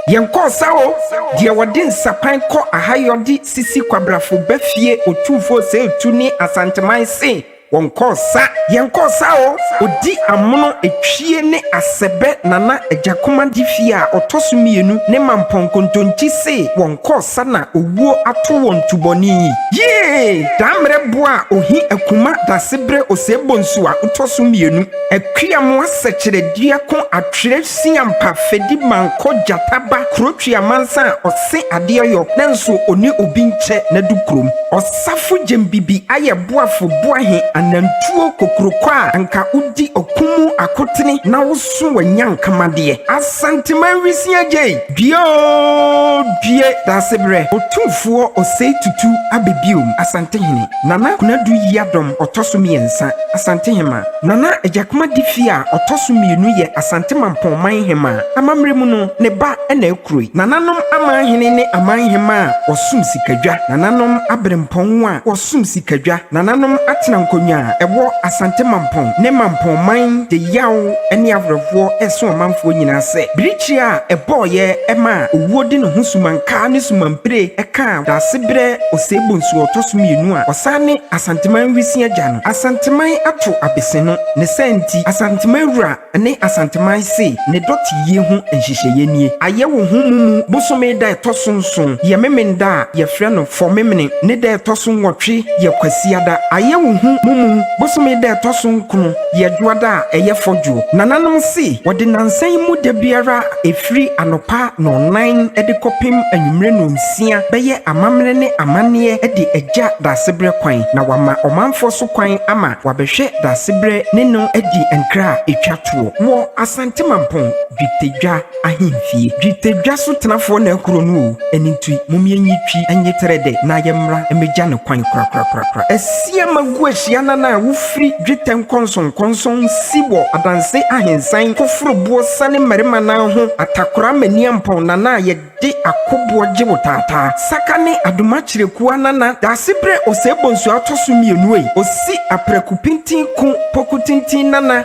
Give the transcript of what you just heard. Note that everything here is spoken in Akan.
Yɛnkɔɔ sa o, deɛ wɔde nsapan kɔ ahayɔ de sisi kwabrafo ba fie Otumfoɔ Osei Tuo ne Asanteman se wɔnkɔɔ sa Yɛnkɔɔ sa o, ɔdi amono Etwie ne Asɛbɛ Nana Agyakomadi fie a ɔtɔ so mmienu ne Mampɔn Kontonkyi se wɔnkɔɔ. kɔ sa na owuo ato wɔn tubɔne yi. Yie! Dammerɛ boɔ a ohi akuma Daseberɛ Osee Bonsu a otɔ so mmienu Akuamoa Sɛkyerɛ dua ko Atwerɛ Siampa Fedi Mankɔ Gyata ba Kurotwi Amansan a ɔse adeɛ yɔ nanso ɔne obi nkyɛ Nadu kurom Ɔsafo Gyembibi ayɛ boafo Boahe Anantuo Kokurokɔ a anka wodi ɔko mu akotene na woso w'anyanka madeɛ Asanteman Wisia gyei! Due oo due Daasebrɛ Otumfoɔ Osei Tutu aba biom Asantehene Nana Kunadu Yiadom Ɔtɔ so mmiɛnsa Asantehema Nana Agyakuma Difi a ɔtɔ so mmienu yɛ Asante Mampɔn Man Hema a amammerɛ mu no ne ba na ɛkuroi Nananom Amanhene ne Amanhema a wɔsom sikadwa Nananom Aberempɔn a wɔsom sikadwa Nananom Atena Nkonnwa a ɛwɔ Asante Mampɔn ne Mampɔn Man de yaw ne awerɛhoɔ reso ɔmanfoɔ nyinaa sɛ bere Kyia a ɛbɔeɛ maa owuo de ne ho sumankaa ne sumampire kaa Daasebrɛ Osei Bonsu a ɔtɔ so mmienu a ɔsan ne Asanteman Wisin agya no. Asanteman ato abese no. Ne saa nti, Asanteman wura ne Asanteman se ne dɔteyie ho nhyehyɛeɛ nie. Ayɛ wo ho mumu bosome da a ɛtɔ so nson yɛ Memenda a yɛfrɛ no Fɔmemene ne da a ɛtɔ so nwɔtwe yɛ Kwasiada. Ayɛ wo ho mumu bosome da a ɛtɔ so nkron. Yɛ dwoada a ɛyɛ fɔ dwo. Nananom se wɔde nansa yi mu da biara a ɛfiri anɔpa nɔnnan de kɔpem anwummere nonsia bɛyɛ amammerɛ ne amanneɛ de agya Daasebrɛ kwan na wɔama ɔmanfoɔ so kwan ama wɔabɛhwɛ Daasebrɛ ne no adi nkra a ɛtwa toɔ wɔ Asante Mampong Dwetadwa ahemfie. Dwetɛ dwa so tenafoɔ na kuro no oo, ɛno nti mom yɛnyi twi nye terɛ dɛ na yɛmmra mmɛgya no kwan korakorakorakora. Asia magu ahyia nan a wofiri dwetɛ nkɔnsɔnkɔnsɔn nsi wɔ adanse ahensan koforoboɔ sane mmarima nan ho atakora maniampɔn nana a yɛde akoboɔ gye wo taataa saka ne adomakyerɛkua nana daasebrɛ ɔsɛe bɔnsuo atɔso mmienu ei osi aprɛko pintin ko poku tintin nana